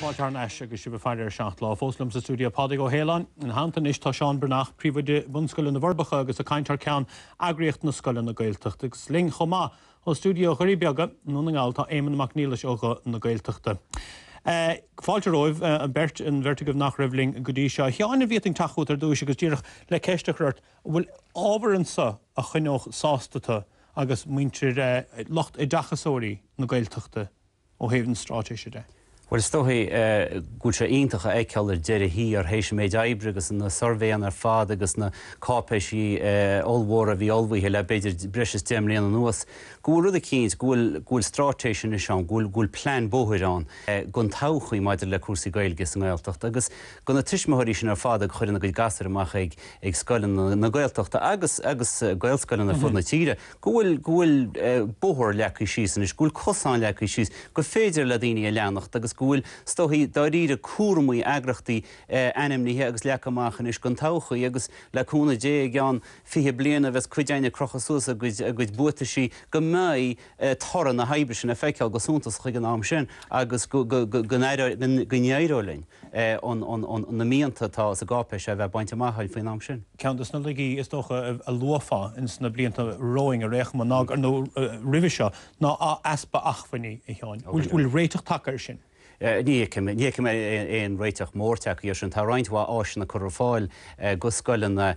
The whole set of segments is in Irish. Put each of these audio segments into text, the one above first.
Fáilte thar n-ais agus sibh ag faire ar Seacht Lá! Fós liom sa stiúideo Pádraig Ó hAoláin. Ina theannta anois tá Seán Breathnach, Príomhoide Bunscoile na bhForbacha agus ag caint thar ceann eagraíocht na scoileanna Gaeltachta. Agus linn chomh maith ó stiúideo Dhoirí Beaga i nDún na nGall tá Éamonn Mac Niallais ó Ghuth na Gaeltachta. Fáilte romhaibh an bheirt, an bheirt agaibh nach raibh linn go dtí seo. A Sheáin, dá bhféadfainn teacht chugat ar dtúis agus díreach le ceist a chur ort, an bhfuil ábhar anseo a choinneodh sásta tu agus muintir, lucht oideachasóirí na Gaeltachta? ó thaobh na straitéise de. Bhuel, is dóichí go bhfuil sé iontach a fheiceáil ar deireadh thiar, théis an méid oibre agus na suirbhéanna ar fad agus na cáipéisí ollmhóra a bhí ullmhaithe le b'fhéidir breis is deich mbliana anuas, go bhfuil rud eicínt, go bhfuil, go bhfuil straitéis anois ann, go bhfuil, go bhfuil plean bóthair ann don todhchaí maidir le cúrsaí Gaeilge sa nGaeltacht agus go na tuismitheoirí sin ar fad a chuireann a gcuid gasúir amach ag, ag scoileanna na Gaeltachta agus, agus Gaelscoileanna ar fud na tíre. go bhfuil, go bhfuil bóthar leagtha síos anois, go bhfuil cosáin leagtha síos, gur féidir le daoine a leanacht agus go bhfuil, is dóichí, dáiríre cúraimí, eagraíochtaí ainmnithe agus leagtha amach anois don todhchaí agus le cúnamh Dé i gceann fiche bliain nuair a bheas cuid againn ag crochadh suas a gcuid, a gcuid buataisí go mbeidh toradh na hoibre sin le feiceáil go suntasach ag an am sin agus go, go, go, go n-éireoidh linn. na mianta atá sa gcáipéis seo a bheith bainte amach againn faoin am sin. Ceann de na laigí is dócha a luafá ins na blianta romhainn ná, nó roimhe seo, ná easpa acmhainní, a Sheáin. Bhfuil réiteach tagtha air sin? Ní fheicim. Ní fheicim aon réiteach mór tagtha air sin. Tá roinnt mhaith áiseanna curtha ar fáil go scoileanna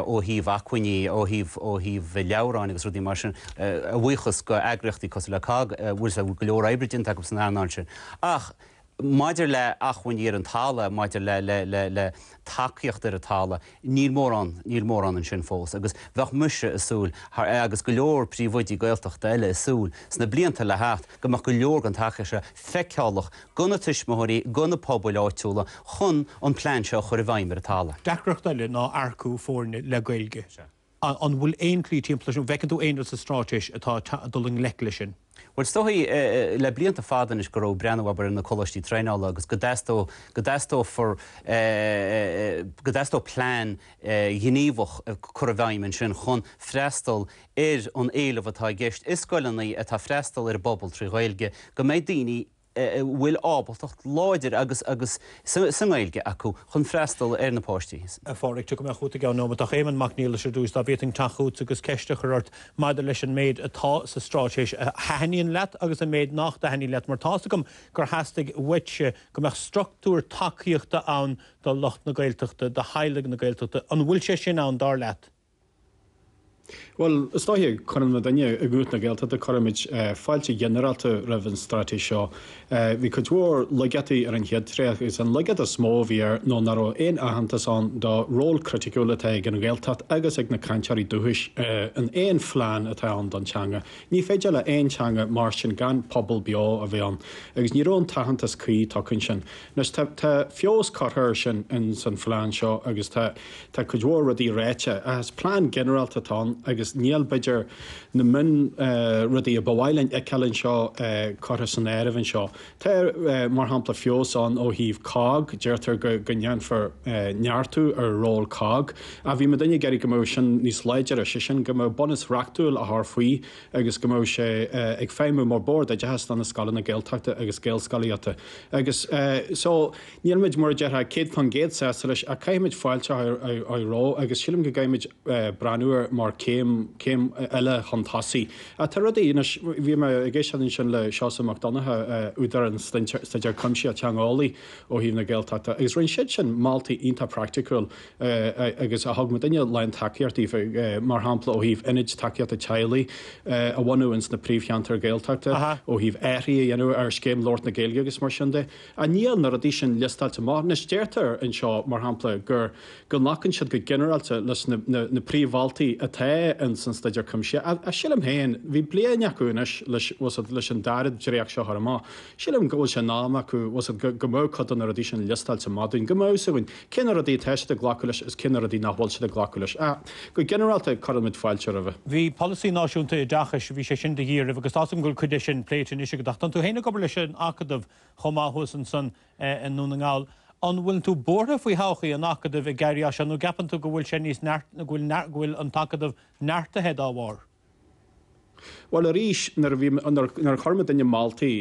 ó thaobh acmhainní, ó thaobh, ó thaobh leabhráin agus rudaí mar sin, a bhuíochas go eagraíochtaí cosúil le COGG, bhfuil go leor oibre déanta acu san earnáil sin. Ach Maidir le acmhainní ar an talamh, maidir le, le, le, le tacaíocht ar an talamh, níl mórán, níl mórán ansin fós agus bheadh mise a' súil, agus go leor príomhoidí Gaeltachta eile a' súil, sna blianta le theacht, go mbeadh go leor den tacaíocht seo feiceálach go na tuismitheoirí, go na pobail áitiúla chun an plean seo a chur i bhfeidhm ar an talamh. Deacracht eile ná earcú foirne le Gaeilge. Sea. An bhfuil aon tslí timpeall air sin? An bhfeiceann tú aon rud sa Straitéis atá ag dul i ngleic leis sin? Bhuel, is dóichí le blianta fada anois go raibh breathnú, abair, ar na coláistí traenála agus go dteastódh, go dteastófar, go dteastódh plean gníomhach a chur i bhfeidhm ansin chun freastal ar an éileamh atá i gceist i scoileanna atá ag freastal ar an bpobal trí Ghaeilge, go mbeidh daoine, a bhfuil ábaltacht láidir agus agus sa nGaeilge acu chun freastal ar na páistí. A Phádraig, tiocfaidh mé chugat i gceann nóiméad ach Éamonn Mac Niallais ar dtús, dá bhféadfainn teacht chugatsa agus ceist a chur ort maidir leis an méid atá sa Straitéis a thaitníonn leat agus an méid nach dtaitníonn leat mar tá's agam gur theastaigh uaitse go mbeadh structúr tacaíochta ann do lucht na Gaeltachta, do theaghlaigh na Gaeltachta. An bhfuil sé sin ann, dar leat? Bhuel, is dóiche cuireann muidinne i nGuth na Gaeltachta cuirimid fáilte ghinearálta roimh an straitéis seo. Bhí cuid mhór laigeachtaí ar an chéad dréacht agus an laigeacht is mó a bhí air nó ná raibh aon aitheantas ann do ról criticiúil atá ag an Ghaeltacht agus ag na cainteoirí dúchais in aon phlean atá ann don teanga. Ní féidir le haon teanga mairstin gan pobal beo a bheith ann agus ní raibh an t-aitheantas cuí tugtha ansin. Anois tá feabhas curtha air sin ins an phlean seo agus tá Tá cuid mhór rudaí ráite, ach is plean ginearálta atá ann agus níl, b'fhéidir, na mion rudaí a ba mhaith linn a fheiceáil anseo curtha san áireamh anseo. Tá, mar shampla, feabhas ann ó thaobh COGG, deirtear go ndéanfar neartú ar ról COGG, ach bhí muidinne ag iarraidh go mbeadh sin níos láidre, sé sin, go mbeadh bunús reachtúil á chur faoi agus go mbeadh sé ag feidhmiú mar Bord Oideachais do na scoileanna Gaeltachta agus Gaelscolaíochta agus so. Níl muid, mar a déarfá, céad fán gcéad sásta leis ach caithfimid fáilte a chur roimh agus sílim go gcaithfimid breathnú air mar chéim, céim eile chun tosaigh. Ach tá rudaí, anois, bhí mé ag éisteacht ansin le Seosamh Mac Donnacha, údar an staidéir cuimsithe teangeolaí ó thaobh na Gaeltachta agus rinne siad sin moltaí iontach praiticiúil agus a thug muidinne lán tacaíochta daofa, mar shampla ó thaobh ionaid tacaíochta teaghlaigh a bhunú ins na príomhcheantair Ghaeltachta, ó thaobh athruithe a dhéanamh ar Scéim Labhairt na Gaeilge agus mar sin de. Ach níl na rudaí sin liostáilte amach, anois deirtear anseo, mar shampla, gur, go nglacann siad go ginearálta leis na, na, na príomh-mholtaí atá ins an Staidéar Cuimsithe, ach sílim féin, bhí bliain acu anois leis, tá 's agat, leis an dara dréacht seo a chur amach, sílim go bhfuil sé in am acu, tá 's agat, go, go mbeadh cuid de na rudaí sin liostáilte amach dúinn, go mbeadh 's againn cé na rudaí atá siad ag glacadh leis is cé na rudaí nach bhfuil siad ag glacadh leis, ach go ginearálta cuireann muid fáilte roimhe. Bhí Polasaí Náisiúnta Oideachais, bhí sé sin de dhíth oraibh agus tá 's agam go bhfuil cuid de sin pléite anois agat ach tánn tú féin ag obair leis an Acadamh, chomh maith thuas ansan i nDún na nGall. An bhfuileann tú buartha faoi thodhchaí an Acadaimh ag éirí as seo nó gceapann tú go bhfuil sé níos neart, go bhfuil, go bhfuil an tAcadamh neartaithe dá bharr? Bhuel, arís, nuair a bhí, nuair a chuir muidinne moltaí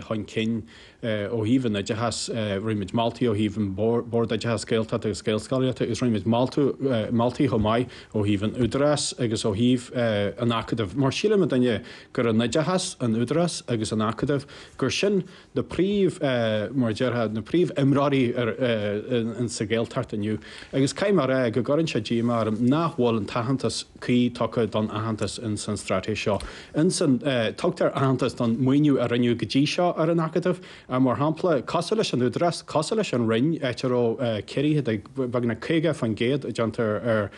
chun cinn ó thaobh an oideachais, rinne muid moltaí ó thaobh an Bord Oideachais Gaeltachta agus Gaelscolaíochta agus rinne muid moltaí chomh maith ó thaobh an Údarás agus ó thaobh an Acadaimh mar síleann muidinne gur an oideachas, an Údarás agus an Acadamh gur sin na príomh, mar a déarfá, na príomh imreoirí sa Ghaeltacht inniu agus caithfidh mé a rá go gcuireann sé díomá orm nach bhfuil an t-aitheantas cuí tugtha don aitheantas in san straitéis seo. In san, tugtar aitheantas don maoiniú a rinneadh go dtí seo ar an Acadamh, ach mar shampla, cosúil leis an Údarás, cosúil leis an Roinn, áit a raibh ciorruithe de bheagnach 50% déanta ar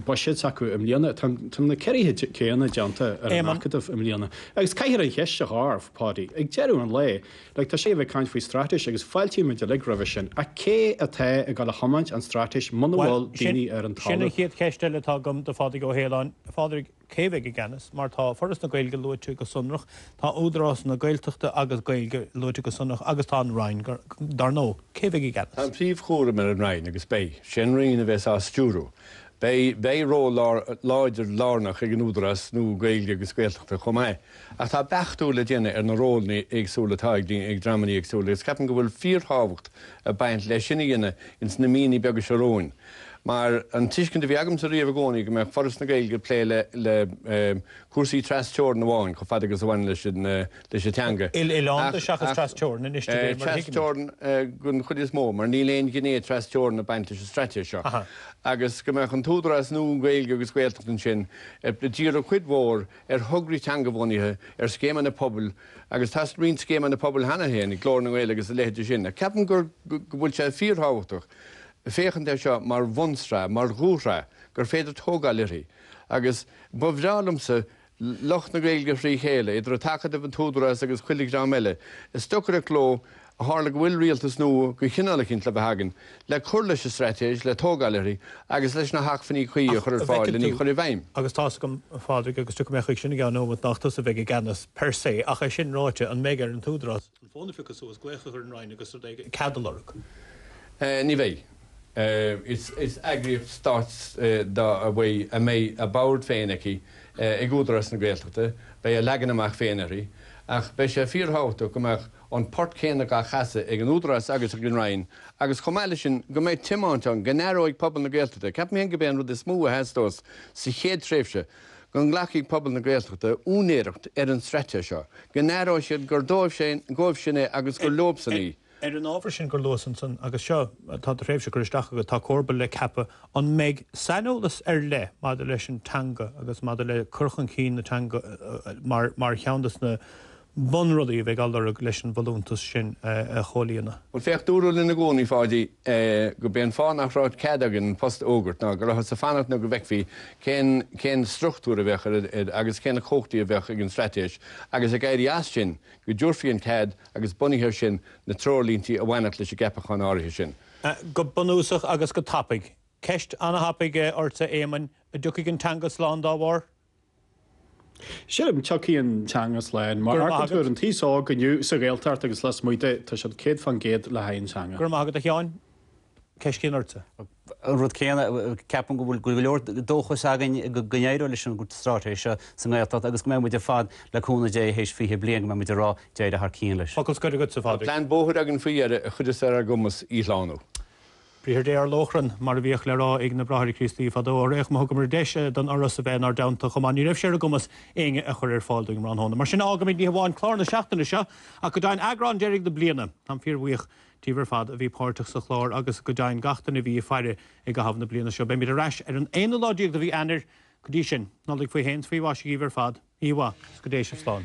buiséad s'acu i mbliana, tá na ciorruithe céanna déanta ar an Acadamh i mbliana. Agus caithfear an cheist a chur, Páidí, ag deireadh an lae, like tá sibh ag caint faoi straitéis agus fáiltíonn muid uilig roimhe sin, ach cé atá ag dul a thiomáint an straitéis muna bhfuil daoine ar an talamh? Bhuel, sin, sin an chéad cheist eile atá agam do Phádraig Ó hAoláin. A Phádraig, cé a bheidh i gceannas? Mar tá Foras na Gaeilge luaite go sonrach, tá Údarás na Gaeltachta agus Gaeilge luaite go sonrach agus tá an Roinn, dar ndóigh. Cé a bheidh i gceannas? Tá an príomhchúram ar an Roinn agus beidh, sé an Roinn a bheas á stiúrú. Beidh ról láidir lárnach ag an Údarás nua Gaeilge agus Gaeltachta chomh maith, ach tá beachtú le déanamh ar na rólanna éagsúla atá ag dreamanna éagsúla agus ceapaim go bhfuil fíorthábhacht ag baint leis sin a dhéanamh ins na míonna beaga seo romhainn mar an tuiscint a bhí agamsa riamh i gcónaí go mbeadh Foras na Gaeilge ag plé le cúrsaí tras-teorann amháin chomh fada agus a bhaineann leis an leis an teanga. Il-oileánda seachas tras-teorainn anois, cibé, mar a thuigimid. Tras-teorainn den chuid is mó, mar níl aon ghné tras-teorainn ag baint leis an straitéis seo. Agus go mbeadh an t-údarás nua Gaeilge agus Gaeltachta ansin ag díriú cuid mhór ar thograí teangabhunaithe, ar scéimeanna pobail, agus tá roinnt scéimeanna pobail cheana féin, Glór na nGael agus a leithéide sin, ach ceapaim go bhfuil sé fíorthábhachtach féachaint air seo mar bhunsraith, mar dhúshraith gur féidir tógáil uirthi. Agus ba bhreá liomsa lucht na Gaeilge thrí chéile, idir an tAcadamh, an tÚdarás agus chuile dhream eile, ag stocaireacht leo ó tharla go bhfuil rialtas nua de chineál eicínt le bheith againn, le cur leis an straitéis, le tógáil uirthi, agus leis na hacmhainní cuí a chur ar fáil len í a chur i bhfeidhm. Ach an bhfeiceann tú, agus tá's agam, a Phádraig, agus tiocfaidh mé chuig sin i gceann neomat, nach tusa a bheidh i gceannas, per se, ach é sin ráite, an mbeidh ar an Údarás, an fón a phiocadh suas, glaoch a chur ar an Roinn agus rud éigin, cead a lorg. Ní bheidh. Is eagraíocht stáit a mbeidh a bord féin aici ag Údarás na Gaeltachta, beidh a leagan amach féin uirthi, ach beidh sé fíorthábhachtach go mbeadh an port céanna á chasadh ag an Údarás agus ag an Roinn agus chomh maith leis sin go mbeidh tiomáint ann go n-aireoidh pobal na Gaeltachta. Ceapaim féin gurb é an rud is mó a theastós sa chéad tréimhse, go nglacfaidh pobal na Gaeltachta úinéireacht ar an straitéis seo, go n-aireoidh siad gur dóibh sin é agus gur leobsan í. Ar an ábhar sin gur leosan san, agus seo atá do thréimhse curtha isteach agat, tá comharba le ceapadh, an mbeidh saineolas ar leith maidir leis an teanga agus maidir le cur chun cinn na teanga mar cheann de na. bunrudaí a bheidh á lorg leis an bhfolúntas sin a chomhlíonadh. Bhuel, féach, dúradh linn i gcónaí, Pháidí, gurb é an fáth nach raibh cead againn an post a fhógairt ná go rabhthas ag fanacht nó go bhfeicfí cén, cén struchtúr a bheadh ar an, agus cé na cumhachtaí a bheadh ag an Straitéis agus ag éirí as sin, go dtabharfaí an cead agus bunaithe air sin na treoirlíntí a bhainfeadh leis an gceapachán áirithe sin. Go bunúsach agus go tapaidh. Ceist ana-thapaidh ortsa, a Éamoinn, a dtiocfaidh an teanga slán dá bharr? Sea, tiocfaidh an teanga slán. Mar adúirt an t-aos óg inniu, sa Ghaeltacht agus lasmuigh di, tá siad céad fán gcéad le haghaidh an teanga. Go raibh maith agat, a Sheáin. Ceist chéanna ortsa. An rud céanna, ceapaim go bhfuil go leor dóchais againn go n-éireoidh leis an straitéis seo sa nGaeltacht agus go mbeidh muid ar fad, le cúnamh Dé, théis 20 bliain, go mbeidh muid ag rá, d'éirigh thar cionn leis. Focal scoir agatsa, a Phádraig. Tá plean bóthair againn faoi dheireadh a chuirfidh ar ár gcumas í a shlánú. Briathar Dé ar lóchrann, mar a bhíodh le rá ag na Bráithre Críostaí fadó. Sea, má thugamar deis don Fhoras a bheith inár dteannta chomh maith, ní raibh sé ar a gcumas éinne a chur ar fáil dúinn tráthnóna. Mar sin, fhágfaimid ní hamháin clár na seachtaine seo, ach go deimhin eagrán deiridh na bliana. Táim fíorbhuíoch díbh ar fad a bhí páirteach sa chlár agus go deimhin gach duine a bhí ag faire i gcaitheamh na bliana seo. Beimid ar ais ar an aonú lá déag de mhí Eanáir. Go dtí sin, Nollaig faoi shéan 's faoi mhaise dhíbh ar fad. Oíche mhaith, 's go dté sibh slán.